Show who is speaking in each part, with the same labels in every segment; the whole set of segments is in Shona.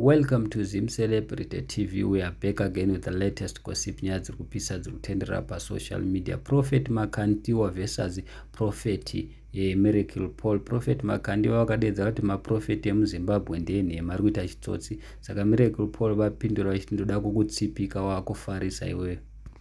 Speaker 1: Welcome to Zim Celebrity TV. We are back again with the latest gossip nyaya dziri kupisa dziri kutenderera pasocial media. Prophet Makandiwa versus Prophet eh, Miracle Paul. Prophet Makandiwa vakadeedza kuti maprofeti emuZimbabwe ndeenhema ari kuita chitsotsi. Saka Miracle Paul vapindura vachiti ndoda kukutsipika wakufarisa iweyo.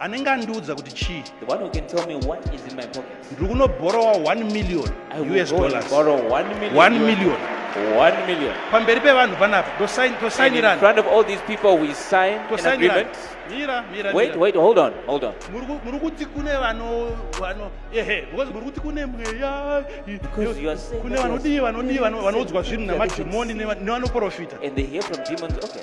Speaker 2: anenge andiudza
Speaker 3: kuti chii
Speaker 2: ndiri kunobhorowa
Speaker 3: 1 million us
Speaker 2: dollars
Speaker 3: 1
Speaker 2: million
Speaker 3: One million.
Speaker 2: pamberi pevanhu
Speaker 3: panapa
Speaker 2: Wait,
Speaker 3: wait, hold on,
Speaker 2: hold on. muri kuti
Speaker 3: kune vano vano ehe because muri kuti kune mweya Because you are saying
Speaker 2: kune vanodii vanodii
Speaker 3: vanoudzwa
Speaker 2: zvinhu
Speaker 3: namadhimoni nevanoprofita And they hear from
Speaker 2: demons. Okay.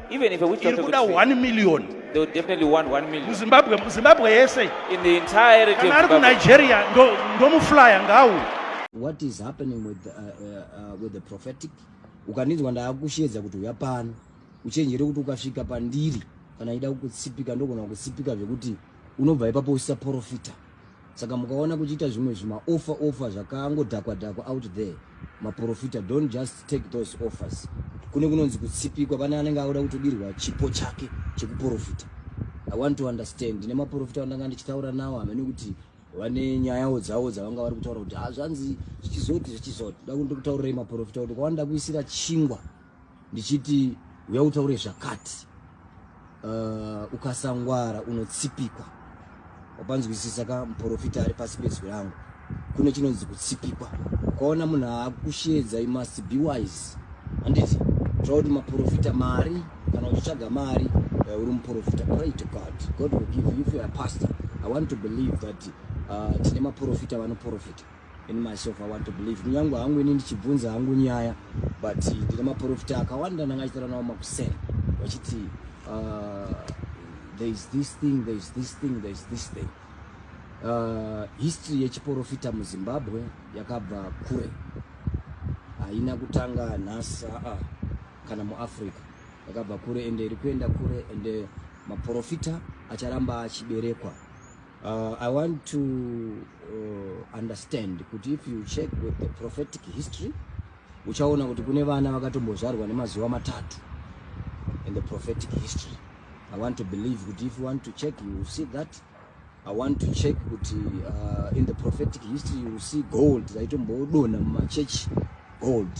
Speaker 3: Even if a witch doctor
Speaker 2: could see, 1 million. They would
Speaker 3: definitely
Speaker 2: want 1 million. Zimbabwe, Zimbabwe yese.
Speaker 3: In the entirety
Speaker 2: of Zimbabwe. Nigeria, ndo, ndo
Speaker 3: muflyer ngawu. What is
Speaker 4: happening with, uh, uh, uh with the prophetic? Ukanizwa ndaakushedza kuti uya pano. Uchenjere kuti ukasvika pandiri. Kana ida kukutsipika ndogona kukutsipika zvekuti unobva ipapo usisaporofita. saka mukaona kuchiita zvimwe zvimaoffer offer zvakangodhakwa dhakwa out there maprofita don't just take those offers kune kunonzi kutsipikwa pane anenge auda kutodirwa chipo chake chekuprofita i want to understand ndine maprofita andanga ndichitaura nawo hamene kuti vane nyayawo dzavo dzavanga vari kutaura kuti hazvanzi ah, zvichizoti zvichizoti da kundikutaurirai maprofita kuti kwavanoda kuisira chingwa ndichiti uya utaure zvakati uh, ukasangwara unotsipikwa wapanzwisisa ka muporofita ari pasi pezwi rangu kune chinonzi kutsipikwa ukaona munhu aakushedza you must be wise handiti tira kuti maporofita mari kana uchitsvaga mari eh, uri muporofita pray to god god will give you if you are pastor i want to believe that uh, tine maporofita vanoporofita in myself i want to believe kunyange hangu ini ndichibvunza hangu nyaya but ndine maporofita akawanda ndanga achitaura nawo makuseni vachiti uh, there is this thing there is this thing there is this thing uh, history yechiporofita muzimbabwe yakabva kure haina kutanga nhasi aa kana muafrica yakabva kure ende iri kuenda kure ende maporofita acharamba achiberekwa Uh, I want to uh, understand kuti if you check with the prophetic history uchaona kuti kune vana vakatombozvarwa nemazuva matatu in the prophetic history I want to believe kuti if you want to check you will see that I want to check kuti uh, in the prophetic history you will see gold zvaitombodonha mumachechi gold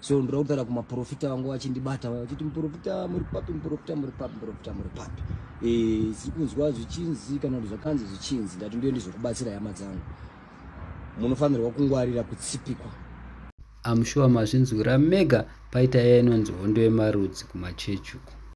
Speaker 4: so ndoda kutaura kumaprofita vangu vachindibata vaya vachiti muprofita muri papi muprofita muri papi muprofita muri papi eh, siri kunzwa zvichinzi kana kuti zvakanzi zvichinzi ndati ndiyo ndizokubatsira hama dzangu munofanirwa kungwarira kutsipikwa
Speaker 1: amshuwa mazvinzwira mega paita iya inonzi hondo yemarudzi kumachechi uko